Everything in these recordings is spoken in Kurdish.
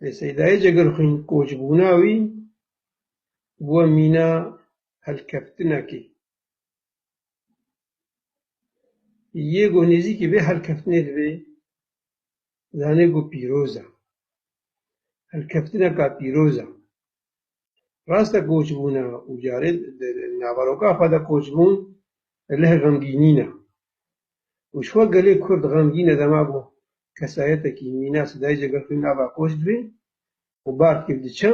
Lê Seydayê Cegerxwîn koçbûna wî bûye mîna helkeftinekê yê ku nêzîkî vê helkeftinê divê zanîn ku pîroz e. Helkeftineka pîroz e. Rast e koçbûn e û carê di naveroka xwe de koçbûn leh xemgînîn e û ji xwe gelê kurd xemgîn e dema ku kesayetekî mîna sidayîcê gel xwîn ava koç dibê û bar têv diçe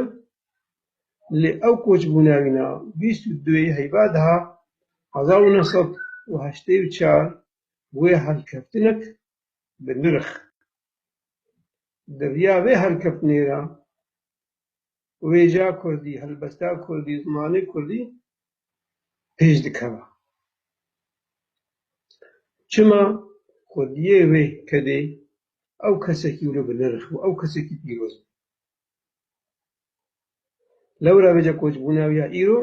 lê ew koçbûna wîn a. Bîst û du yê heyva di hezar û neh sed û heştê û çar bûye helkeftinek bi nirx. Di riya vê helkeftinê de wêja kurdî, helbesta kurdî, zimanê kurdî pêş dikeva. Çima kurdiyê wê kedê ew kesekî wilo bi nirx bû, ew kesekî pîroz bû. Lewra vêca koçbûna wî ya îro,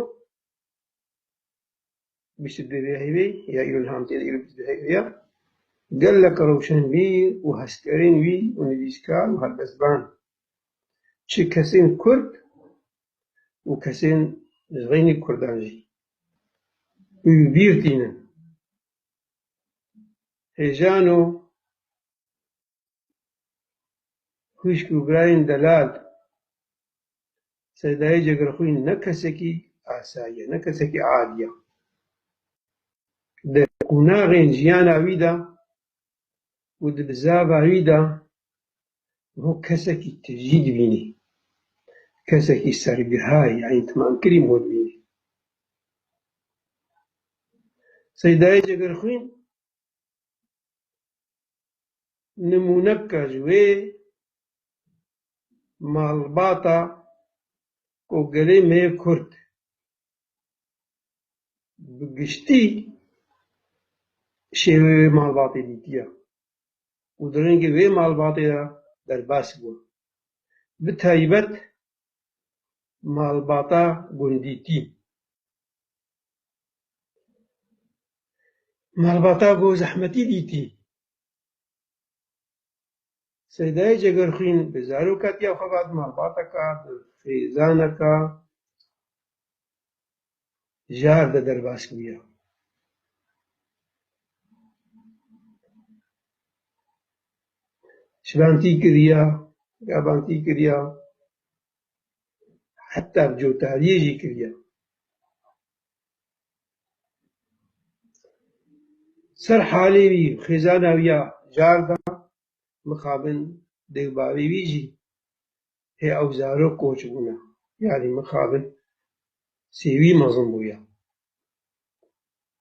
Bîst û dû ya hêvî ya îro li Hamtê de îro bîst û dû hêvî ya gelek rewşenbîr û hezkerên wî û nivîskar û helbestvan çi kesên kurd û kesên ji xeynî kurdan jî wîbîr tînin. Hêjano. xwîşk û birayên delal Seydayê Cegerxwîn ne kesekî asayi ye, ne kesekî adi ye. Di qonaxên jiyana wî de û di bizava wî de wiha kesekî tijî dibînî, kesekî sergihayî ya întîmamkirî wiha dibînî. Seydayê Cegerxwîn Nimûneka ji wê malbata ku gelê me yê kurd bi giştî şêwê wê malbatê dîtiye û di rengê wê malbatê de derbas bû. Bi taybet malbata gundîtî. Malbata ku zehmetî dîtî. Seydayê Cegerxwîn bi zaroka tîya xwe ve di malbateke bi xêzaneke jar de derbas bûye. Şibantî kiriye, gavantî kiriye. heta cotariyê jî kiriye. Ser halê wî û xêzana wî ya carda mixabin dewbavê wî jî hê ew zarok koç bûne, yanî mixabin sêwî mezin bûye.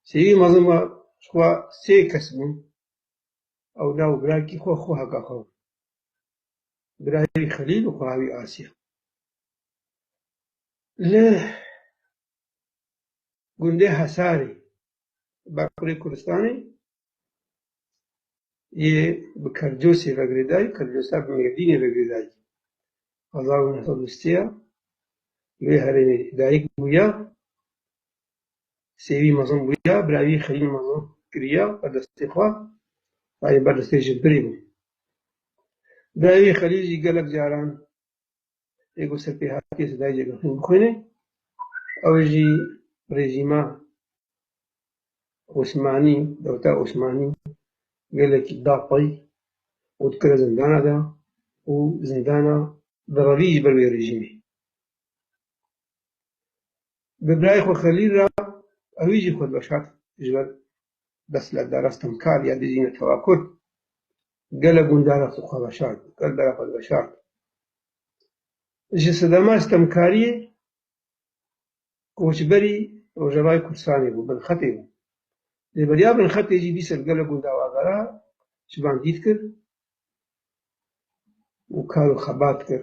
Sêwî mezin ma ji xwe sê kes bûn, ew na û birakî xwe xwe heka xwe bûn. Birayî Xelîl û Xwewî Asya li gundê Hesarê li Bakurê Kurdistanê yê bi Kerdosê ve girêdayî, Kerdosa bi Mêrdînê ve girêdayî. Hezar û neh sed û sê ya li wê herêmê dayik bûye Sêwî mezin bûya, bira wî Xelîl mezin kiriya ber destê xwe, xwedî ber destê ji birî bû. Bira wî Xelîl jî gelek caran lê ku ser pê hatiye sedayê cegirxîn bixwîne, ew jî rejîma Osmanî, dewleta Osmanî gelekî da pey û dikire zindana de û zindana di revî ji ber wê rejîmê. Bi birayê xwe Xelîl re ewî jî xwe veşart ji ber beslevdara stemkar ya dijî netewa kurd. Gelek gundar re xwe veşart, gel bera xwe veşart. Ji sedema stemkariyê koçberî Rojavayê Kurdistanê bû, Binxetê bû. Lê beriya Binxetê jî dîsa li gelek gundan avara ji van dît kir û kar û xebat kir.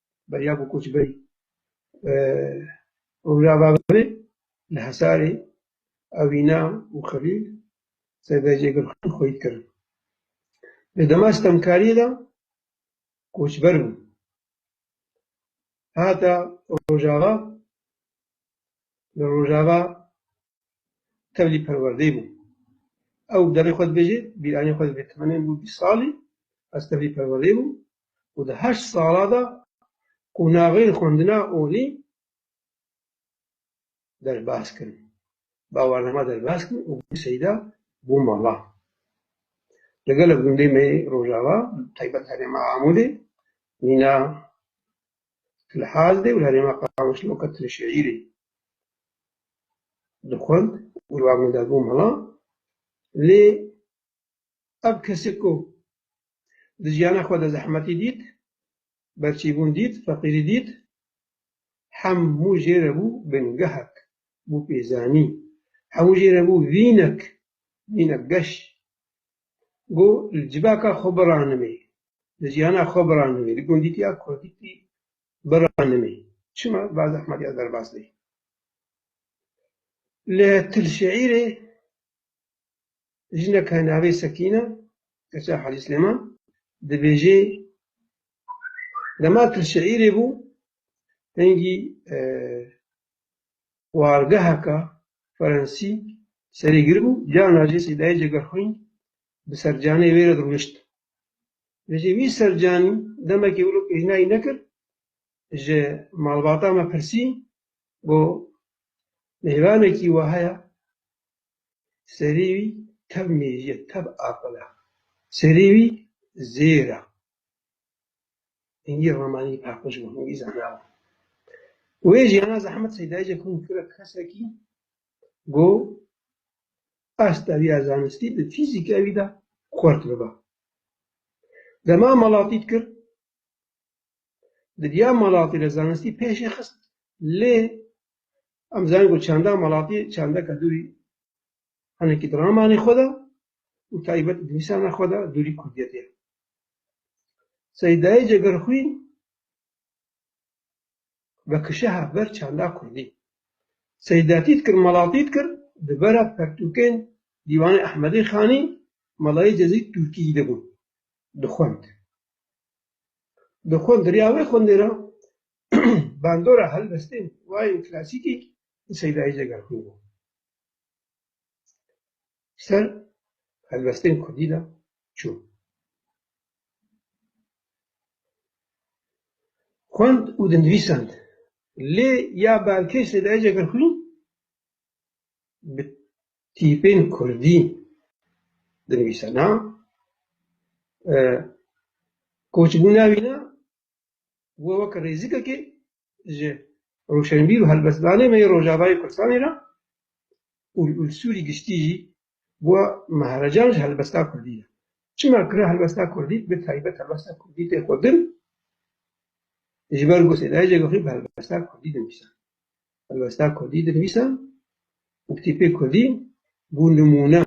beriya ku koçberî Rûra Baverê li Hisarê Ewîna û Xelîl Severcê Gulxan xweyî kirin. Di dema sitemkariyê de koçber bûn. Hate Rojava, li Rojava tevlî perwerdê bû. Ew bi derê xwe dibêje, bîranî xwe divê, Temenê min bû bîst salî, ez tevlî perwerdê bûm, û di heşt sala de qonaxên xwendina olî derbas kirin, bawarnama derbas kirin û bû seyda bû mala. Li gelo gundê me yê Rojava bi taybet herêma Amûdê, mîna Tilhaz de û li herêma Qamişloka Tilşehîrê dixwend û li wan gunda bû mala lê Ev kesî ku di jiyana xwe de zehmetî dît, berçîbûn dît, feqîrî dît, hemû jê re bû bingehek, bû pêzanî, hemû jê re bû vînek, vînek geş. Go li civaka xwe biranimê, li jiyana xwe biranimê, li gundîtiya kurdîtî biranimê. Çima ba zehmetiya derbas bê. Li Til Şeîrê Jineke navê Sekîn e, keça Hacî Silêman dibêjê, Dema tu li Şeîrê bû, hingî wargeheka Fransî serê giribû, cana jî Sêdayê Cegerxwîn bi sercanê wê re dirûnişt. Dibêje wî sercanî demekê wilo pêşniyayî nekir, ji malbata me pirsî, got mêvanekî wiha heye Serî wî tev mêjîye, tev aqil e. Serî wî zêr e. Hingî ramanî paqij bû, hingî zana bû. Wê jî ana zehmet Seydayîje kom kira kesekî ku asta wî ya zanistî di fîzîka wî de xurt biba. Dema malatî dikir, di diya malatî de zanistî pêşê xist lê Em dizanin ku çanda malatî çandeka dûrî hinekî di ramanê xwe de û taybet di nivîsana xwe de dûrî kurdiyetê ye. Seydayê Cegerxwîn vekişeha ber çanda kurdî. Seydatî dikir, malatî dikir, di vera pertûkên Dîwanê Ehmedê Xanî, Melayê Cezî Tûrkî de bû, dixwend. Dixwend, di riya wê xwendê re bandora helwestên wayên klasîkî li Seydayê Cegerxwîn bû. Ser helwestên kurdî de çû. Xwend û dinivîsand. Lê ya berkê Seydayê Cegerxwîn bi tîpên kurdî dinivîsana. Koçbûna wî ne We weke rêzikekê ji roşenbîr û helbestdanê me yê Rojavayê Kurdistanê re û li Sûrî giştî jî bûye mehrecan ji helbesta Kurdî re. Çima kira helbesta Kurdî bi taybet helbesta Kurdî tê xwedin ji ber ku Sêdayicek xwe bi helbesta Kurdî dinivîsa. Helbesta Kurdî dinivîsa û kitêbê Kurdî bû nimûne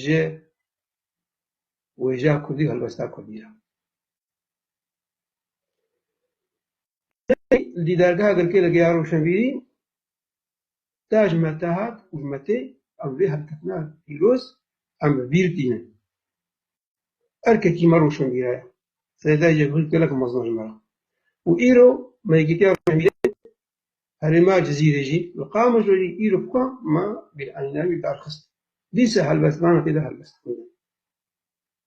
ji wêjeya Kurdî û helbesta Kurdî re. Tê li dîdargeha girkê li Geya Rewşenbîrî ta ji me te hat û ji me tê, em vê hevketina pîroz em bi bîr tînin. Erkekî me rewşenbîre ye. Seyda Cevhîr gelek mezin e ji me re û îro me Yekîtiya Rewşenbîrên Herêma Cizîrê jî li Qamişlo jî îro bi ku me bêeynî navê darxist. Dîsa helbestvanan tê de helbestandin.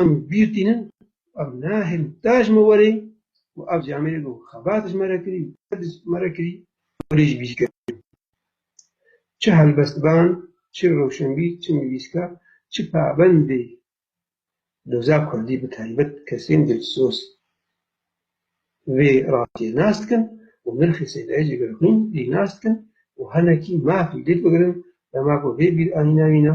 Em bîr tînin û ev ne herî te ji me were ye û ev jî Amîrê got xebat ji me re kirî û te ji me re kirî û rê jî bîr kir. Çi helbestvan, çi rewşenbîr, çi nivîskar, çi pabendê doza kurdî bi taybet kesên dilsoz vê rastiyê nas dikin û nirxê Seydayê jî gel xwîn rî nas dikin û hinekî mafê dê bigirin dema ku vê bîranîna wî ne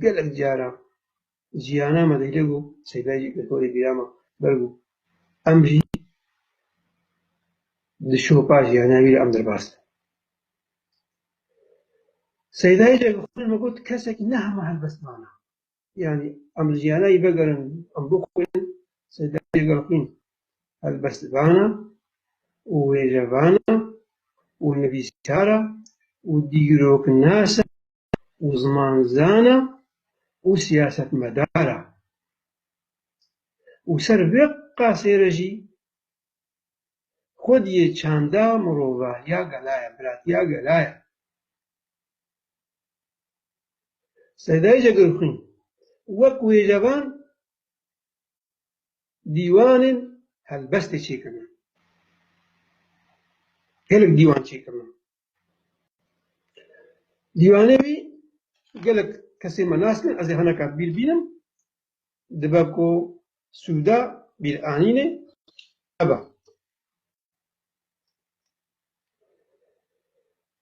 Gelek caran jiyana me dihilik û seyda jî alkolê bîra me berg û em jî di şopa jiyana wî de em derbas bin. Seyda yê cegxwînin me got kesekî ne hema helbest mane. Yanî em li jiyana yê vegerin em bixwînin, seyda yê cegxwîn helbest vana û wêjevana û nivîsar e û dîroknas e. û zimanzan e û siyasetmedar e û ser vê qasê re jî xwedî yê çanda mirovahiya gela ye, biratiya gela ye. Sedayê Cegirxwîn wek wêjevan dîwanên helbestê çêkirine, gelek dîwan çêkirine. Dîwanê wî gelek kesê me nas ne, ez ê hineka bîr bînim, dibe ku sûda bîranînê ev e.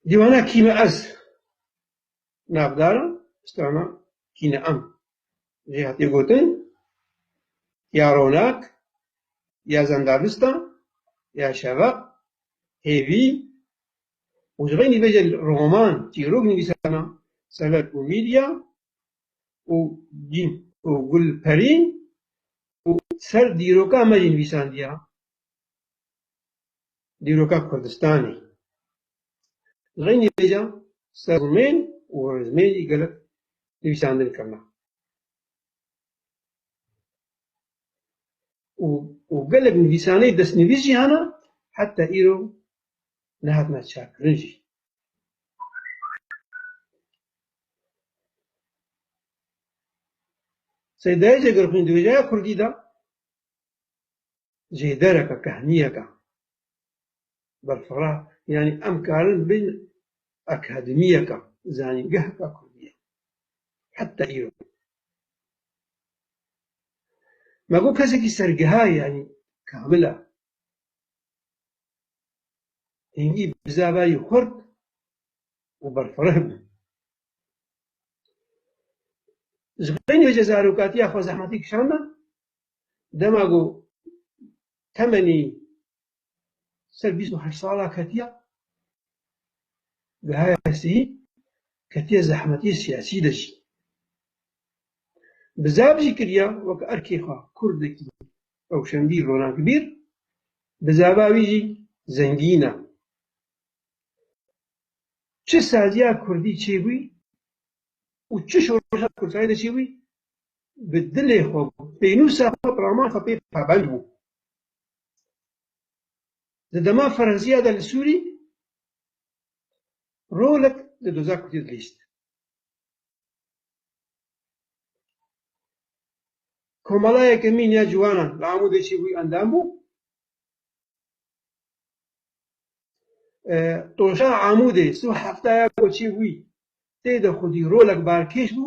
Dîwana kî me ez? Navdara strana Kîneam jî hatiye gotin ya ronak, ya zendavista, ya şeveq, hêvî û ji xwe nîvê jî roman, çîrok nivîsana Sever û Mîlya û Cîn û Gulperîn û ser dîroka me jî nivîsandiya. dîroka Kurdistanê. Li vê nivêja ser zimên û zimên jî gelek nivîsandin kirine û gelek nivîsaneyê destnivîs jî hene heta îro nehatine çakkirin jî. Seydayê Cegirxwîn di wêjeya kurdî de Jêdereke kehniyeke berfireh yanî em karin bin akademiyeke zanîngeheke kurdî ye. Heta îro me ku kesekî sergeha yanî kamil e hingî bi zaverî xurt û berfireh be. Ji xwe nê ji zarokatiya xwe zehmetî kişand e. Dema ku temenî ser bîst û heşt sala ketiya gihaya hestiyî, ketiye zehmetiyê siyasî de jî. Bi zaf jî kiriya weke erkê xwe kurdekî rewşenbîr, ronankbîr, bi zava wî jî zengîn e. Çi saziya kurdî çêbûyî û çi şoreşa kurdxwayî de çêbûyî bi dilê xwe, pênûsa xwe, pirama xwe pê pabend bû. Di dema Ferhziya de li Sûrî rolek li doza Kurdî dilîst. Komalayeke mîn ya ciwanan li Amûdê çêbû endam bû. Toşa Amûdê sih heftaya ku çêbû tê de xwedî rolek barkêş bû.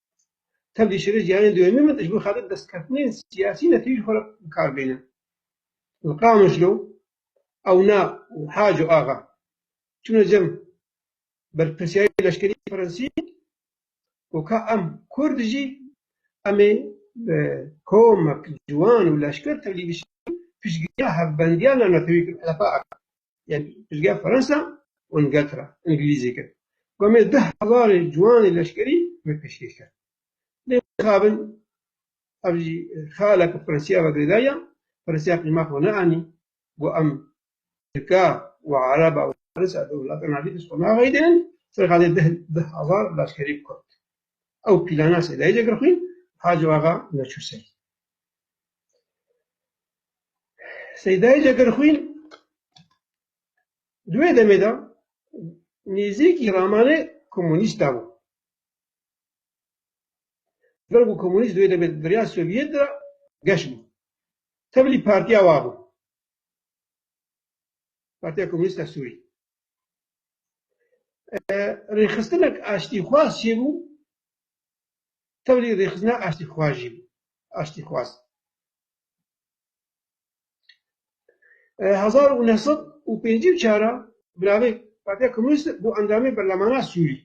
Tevlî şerê jiyanê doyemîn min ji bo xelat destkeftnên siyasî netewî ji xwe re bi kar bêne. Li Qamişlo ewna û Haco Axa çûne cem berpirsiyarê leşkerî Fransî û ka em Kurd jî em ê bi komek, ciwan û leşker tevlî bişînin piştgiriya hevbendiya navnetewî kirin, HDP'ê axivîn. Yan piştgeh Fransa û Îngeltera îngilîzî kir. Komê du hezarê ciwanê leşkerî vê pêşkêş kir. Lê nexabin ev jî xeala ku Fransîya ve girêdaya, Fransîya qîma xwe neanî, got em Tirka û Ereba û Farisa di welata navî dest xwe naxeyîdin, serqadê deh du hezar leşkerî Kurd. Ew pîlana Sêdayî de girxwîn, Hac Axa neçû ser. Seydayê Cekerxwîn di wê demê de nêzîkî ramanê komûnîsta bû. Jiber ku komûnîst di wê demê de di rêya Sovyet de geş bû. Tevlî partiya wa bû. Partiya Komûnîst a Sûrî. Rêxistinek aştîxwaz çêbû tevlî rêxistina aştîxwajî bû, aştîxwaz. Hezar û neh sed û pêncî û çar a bi navê Partiya Komûnîst bû endamê berlemana Sûrî.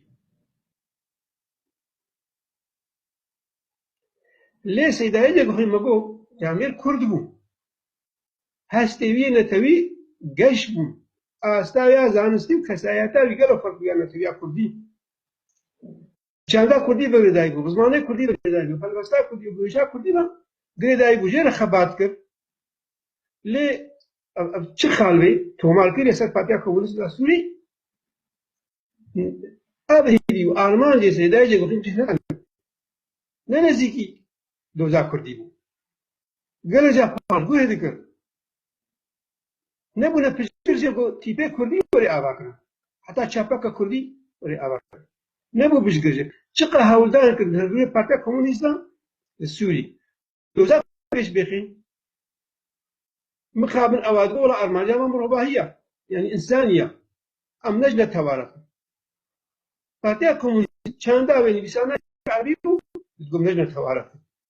Lê Seyda Yecek xwî me got ke em ê Kurd bû. Hestê wî yê netewî geş bûn. Asta ya zanistî û kesayeta wî gelo ferq bû ya netewîya Kurdî. Çanda kurdî bi girêdayî bû, bi zimanê kurdî bi girêdayî bû, helwesta kurdî û guhêja kurdî ve girêdayî bû. Jê re xebat kir. Lê ev ev çi xal bê? Tomarkirî li ser Partiya Komûnîst a Sûrî ev hêvî û armancê Sêdayê Cegûxîn Cîhran e. Ne nêzîkî doza kurdî bû. Gelê ca paşguhê dikir. Nebûne piştgir jê ku tîpê kurdî werê ava kirin. Heta çapaka kurdî werê ava kirin. Nebû piştgir jê. Çiqe hewldanê kirin li rûyê Partiya Komûnîstan li Sûrî. Doza pêş bêxî. Mixabin ewa dibe wela armancên wan mirovahî ya. Yanî însanî ya. Em ne ji ne teware xwe. Partiya Komûnîst çanda wê nivîsandayî erebî bû, digot ne ji ne teware xwe.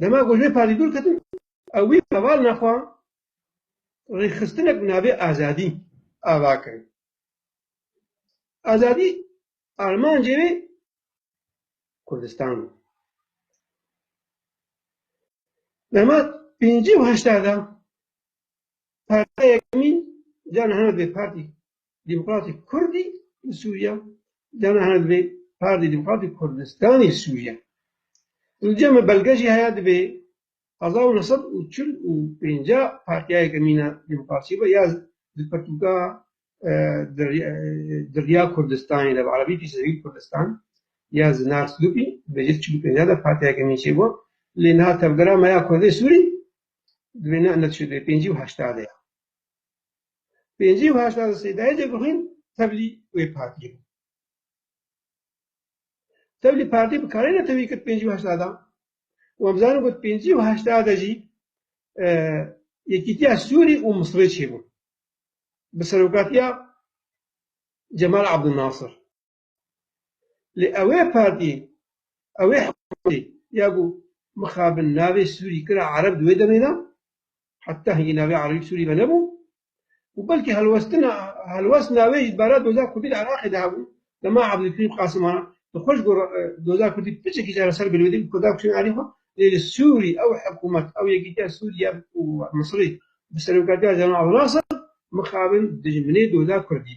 Dema ku ji vê parî dûr ketin ew wî heval nexwa rêxistinek bi navê azadî ava kirin. Azadî armancê wê Kurdistan bû. Dema pêncî û heşta de partiyek mîn carna heme bê partî Demokratîk Kurdî li Sûriya yan hene divê Partî Demokratîk Kurdistanî li Sûriya. Li cem e belge jî heye divê hezar û neh sed û çil û pênca partiyayeke mîna demokrasiyê be ya di pirtûka Diriya Kurdistanê de bi erebî Fîsevîl Kurdistan ya Zinar Slûpî bi jê çil û pênca de partiyayeke mîn çêbû lê niha tevgera me ya Kurdê Sûrî divê ne net şû divê pêncî û heşta de ya. pêncî û heştad û sê derece bixwîn tevlî wê partiyê bû. Tevlî partî bi karê ne tevî kir pêncî û heştadan. Wan bizanin ku pêncî û heştade jî Yekîtiya Sûrî û Misirê çêbûn. Bi serokatiya Cemal Abdulnasir. Lê ewê partiyê, ewê hikûmetê ya ku mixabin navê Sûrî kira Ereb di wê demê de, heta hingî navê Erebî bi Sûrî ve nebû û belkî helwestina helwest navê jî di barê doza kurdî li Iraqê de hebû, dema Ebdulkerîm Qasim a di xwe ji gor doza kurdî piçekî jî li ser bilwêdê û kurda kuştin alî xwe, lê li Sûrî ew hikûmet, ew yekîtiya Sûrî ya ku Misirî bi serokatiya Cemal Abdunasir mixabin dijminê doza kurdî.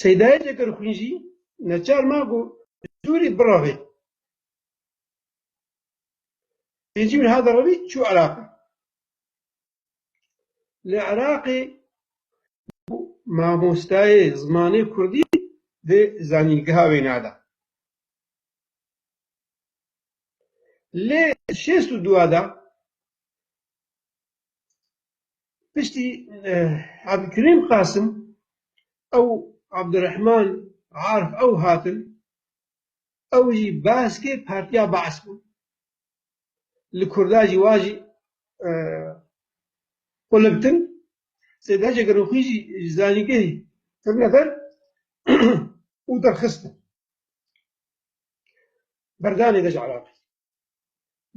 Seydayê Cekerxwîn jî neçar ma ku bi Sûrî birevê. Pêncî min hat revî çû Iraqê. Li Iraqê bû mamostayê zimanê kurdî di zanîngeha wêna de. Lê şêst û dua de Piştî Abdulkerîm Qasim ew Abdurehman Arif ew hatin, ew jî baskê Partiya Baas bûn. Li Kurda jî wa jî qulibtin. Sêda Cegerûxî jî ji zanîngehê ketine der û derxistin berdanê de ji Iraqê.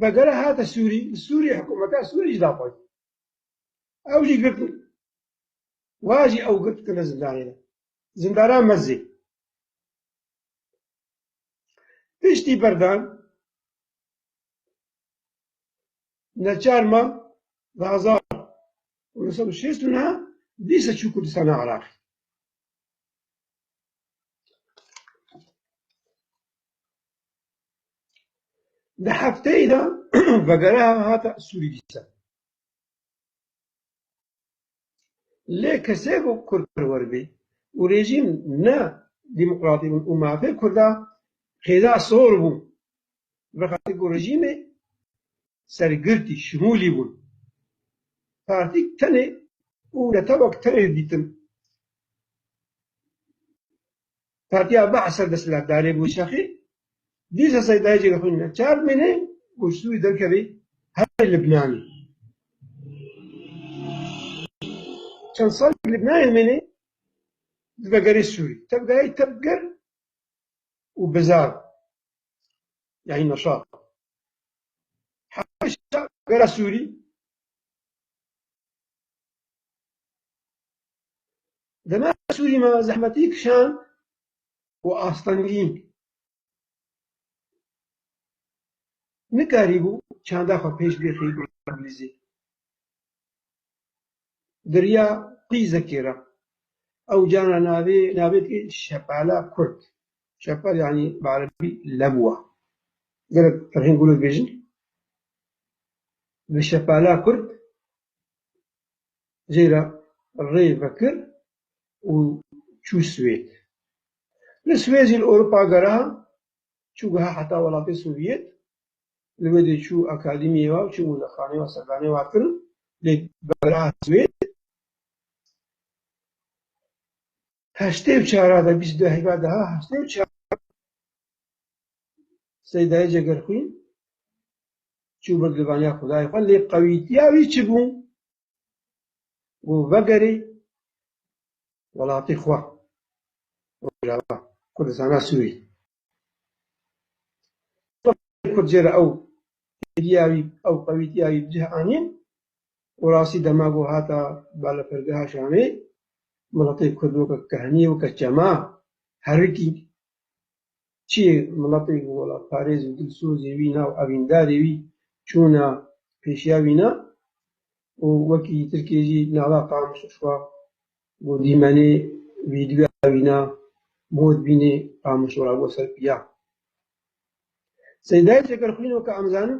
Bedere hate Sûrî, li Sûriyê hikûmeta Sûrî jî daxwazî. Ew jî girtin. Wa jî ew girtine zindanê de. Zindana Mezê. Piştî berdan neçar ma di hezar û neh sed û şêst û neh dîsa çû Kurdistana Iraqê. Di hefteyê de vegereha hate sûrîdîsan lê kesê ku kurd perwer bê û rejîm ne demokratî bûn û mafê kurda qêda sor bû vexetê ku rejîmê sergirtî şimûlî bûn partîk tenê û netewek tenê didîtin. Partiya Bahs a desthilatdarê bû şexî, dîsa seydayîcê li xwînîne. Çar mînê ku ji Sûrî derkevî herî Libnanî. Çend salek Libnanê mînî di vegerî Sûrî. Tevgayî tevger û bizar bû. Yanî neşat. Heşa vera Sûrî. Dema Sûrî me zehmetî kişand û astengî nikarîbû çanda xwe pêş bixî bi îngilîzî, diriya qîzekê re ew carna navê navê dikê Şepala Kurd. Şepal yanî bi erebî lebûa. Gelek ferheng golo dibêjin bi Şepala Kurd jê re rê vekir û çû Swêd. Li Swêd jî li Ewropa gera, çû guha heta welatê Sovyet, li wê dê çû akadîmiyê ve û çû mûzexaneyê ve serdanê wan kir û lê gera Swêd. Heştê û çar a de bîst û du heyva de ha heştê û çar seydayê cegerxwîn çû bird li vaniya xwedayê xwe lê qewîtiya wî çi bû? û vegerî welatî xwe Rojava Kurdistana Sûrî. Kurd jê re ew hêviya wî, ew qewîtiya wî bi cih anîn û rastî dema ku hata balafirgeha Şamê, miletê Kurd weke kehnî, weke çema herikî Çi yê miletê ku welatparêz û dilsozê wî na û evîndarê wî çûna pêşiya wî na û wekî Tirkiyê jî nala qamiş û şwa ku dîmenê vîdyoya wî na mod bînê qamiş û rebo ser piya. Seydayê Çekerxwîno ke em zanin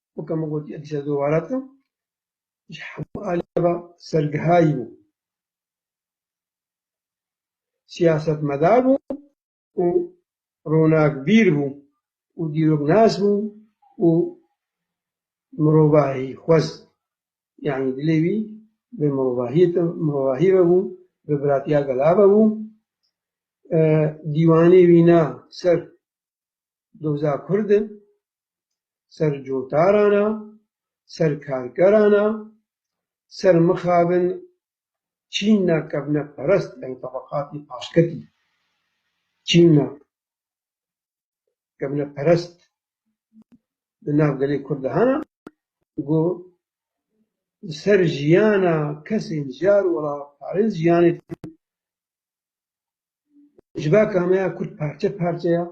weke min gotiye dije doware dikim, ji hemû aliyê ve sergihayî bû, siyasetmedar bû û ronakbîr bû û dîroknas bû û mirovahî xwez. Yanî dilê wî bi mirovahiyê te mirovahî ve bû, bi biratiya gela ve bû. Dîwanê wî na ser doza kurd e, ser cotaran e, ser karkeran e, ser mixabin çîna kevneperest yani tebeqatî paşketî çîna kevneperest di nav gelê Kurd de hene ku li ser jiyana kesên jar û welatparên jiyanê ji baka me ya Kurd parçe parçe ye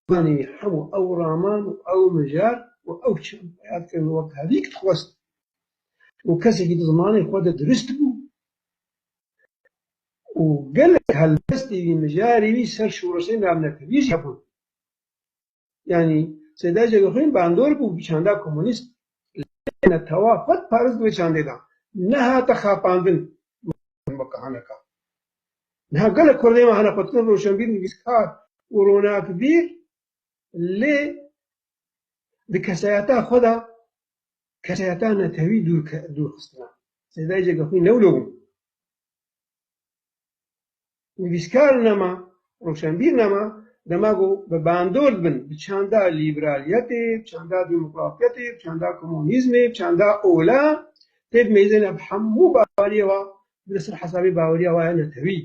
Zimanê hemû ew raman û ew mijar û ew çem xeyal kirin wek hevîk dixwest û kesekî di zimanê xwe de dirust bû û gelek helbestê wî, mijarê wî ser şoreşê navnetewî jî hebûn. Yanî Seyda Celixwîn bandor bû bi çanda komûnîst lê netewa xwe diparist di wê çandê de. Nehate xapandin, mafê weke haneka. Niha gelek kurdên me hene xwedkirin rojşenbîr, nivîskar û ronakbîr lê di kesayeta xwe de kesayeta netewî dûr xistine. Sêdayê Cegexwîn ne wilo bûn. Nivîskar nema, rojşenbîr nema, dema ku bi bandor dibin bi çanda lîberaliyetê, bi çanda demokratiyetê, bi çanda komunîzmê, bi çanda ola tê bi mêzê ne bi hemû bariyê ve li ser hesabê baweriya we ya netewî,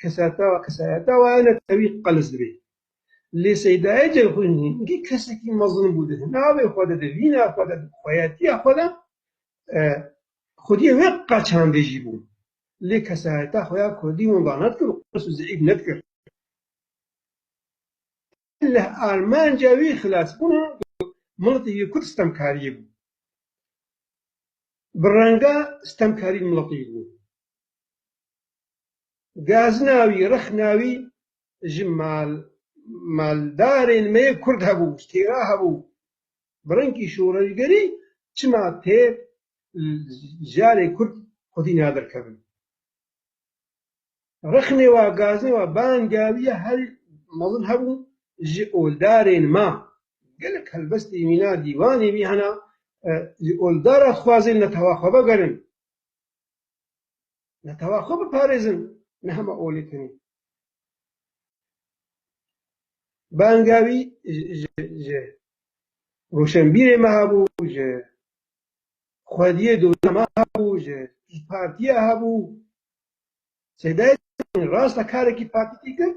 kesayeta we, kesayeta we ya netewî qelis dibe. Lê Seydayê Ceyhûn jî hingî kesekî mezin bû di hinavê xwe de, di vîna xwe de, di xweyetiya xwe de xwediyê wê qaçandê jî bû. Lê kesayeta xwe ya kurdî winda nedikir û qeles û zeîf nedikir. Li armanca wî xilasbûna miletê yê Kurd sitemkariyê bû. Bi renga sitemkarî miletê yê bû. Gazina wî, rexna wî ji maldarên me yê Kurd hebû, ji têra hebû. Bi rengî şoreşgerî çima têr li jarê Kurd xwedî naderkevin? Rixnê wa gazê wa bangawiya her mezin hebû ji oldarên ma. Gelek helbestê mîna dîwanê wî hene ji oldara dixwazin netewa xwe vegerin, netewa xwe biparêzin ne hema olê tenê. Bangawî ji Roşenbîrê ma hebû, ji xwediyê dozana ma hebû, ji Partiya hebû, Sêdayê Temî rasta karekî partîkî kir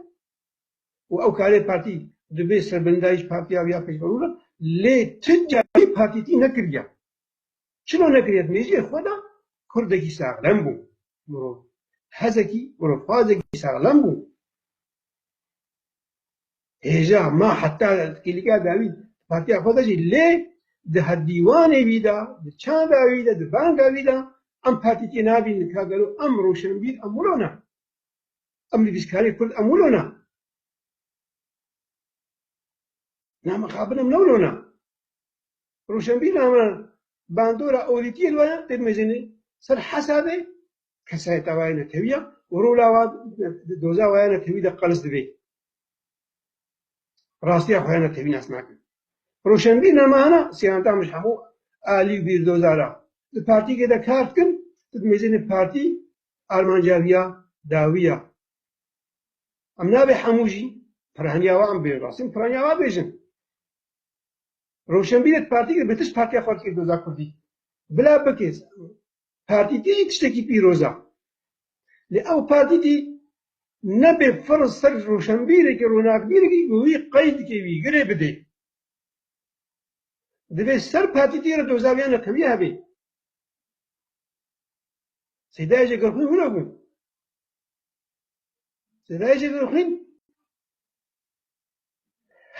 û ew karê partî dibê serbendayîş partiya wî ya pêşveroja lê ti carî partîkî nekiriya. Çima nekiriya? Dimê jî xwe da kurdekî saxlem bû, mirov hezekî, mirovxwazekî saxlem bû. hêja ma heta kêlîka dawî di partiya xwe de jî lê di hevdîwanê wî de, di çanda wî de, di banga wî de em partî tê nabînin ka gelo em rojnbîr em wilo ne? Em nivîskarên kurd em wilo ne? Na mixabin em ne wilo ne? Rojnbîr na me bandora olîtiyê li we ye tê dimejîne ser hesabê kesayeta we ya netewî ya û rola we di doza we ya netewî de qelis dibê. Rastiya xwe ya ne tevî nas nakin. Roşenbîr namahana siyanta min ji hemû alî û bîrdozar a. Di partiyekê de kar dikin ku di mêzên partî armanca wî ya dawî ya. Em nabê hemû jî piraniya wan bên rastîn piraniya wan bêjin. Roşenbîrê di partiyekê de bi tişt partiya xwe dikê doza kurdî. Bila bikês. Partî tê yê tiştekî pîroz e. Lê ew partî tê nebê fir ser rûşenbîrekî, ronakbîrekî ku wî qey dike, wî girê bidê. Divê ser partî tê re doza wî ya neqewî hebê. Sêdayê Jegerxwîn wilo bû. Sêdayê Jegerxwîn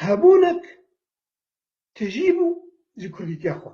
hebûnek tijî bû ji kurdîtiya xwe.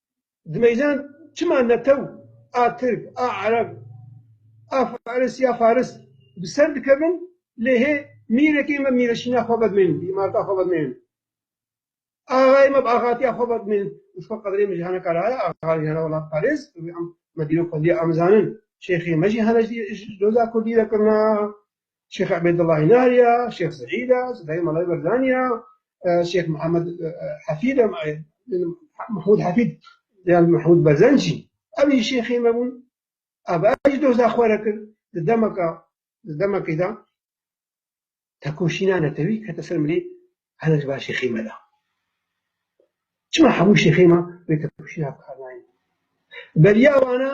dimeylan çima netew a tirk, a ereb, a faris ya faris bi ser dikevin lê hê mîrekê me mîreşîna xwe vedimênin, bi îmareta xwe vedimênin, axayê me bi axatiya xwe vedimênin û ji xwe qedrê min jî hene kar haya axa jî hene welatparêz û em me dîrok xwe diyê amizanin, şêxê me jî hene ji doza kurdî ve kirina. Şêx Ebêdullah Hînar ya, Şêx Seîd a, Sedayê Malay Berzan ya, Şêx Mihemed Hefîd a, Mehmûd Hefîd yan Mehmûd Berzan jî ev jî şêxê me bûn. Ev jî doza xwe re kir di demeka di demekê de tekoşîna netewî kete ser milê hene ji ber şêxê me de. Çima hemû şêxê me vê tekoşîna bikar nayên? Beriya wan a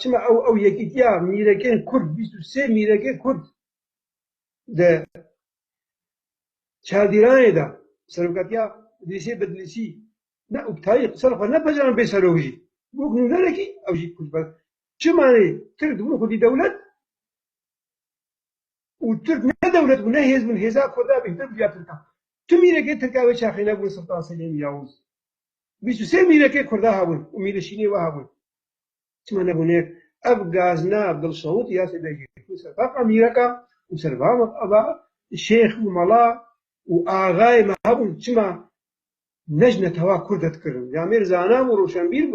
Çima ew yekîtiya mîrekên kurd bîst û sê mîrekê kurd di çardîranê de bi serokatiya Îdrîsê Bedlîsî ne û bi tayî qisa li xwe nepajaran bê serok jî bi wek nûnerekî ew jî kurd be. Çima lê tirk dibin xwedî dewlet û tirk ne dewlet bû ne hêz bûn hêza kurda bêhtir bû ya tirkan. Tu mîrekê tirka wê çaxê nebûn Siltan Selîm Yavûz Bîst û sê mîrekê Kurda hebûn û mîrê şînê we hebûn. Çima nebûnêk ev gazna dilşewit ya sê de jî ku ser taqa mîreka û ser va va şêx û mala û axayê me hebûn çima nejne tewa Kurd e dikirin? Camêr zana bû, roşenbîr bû.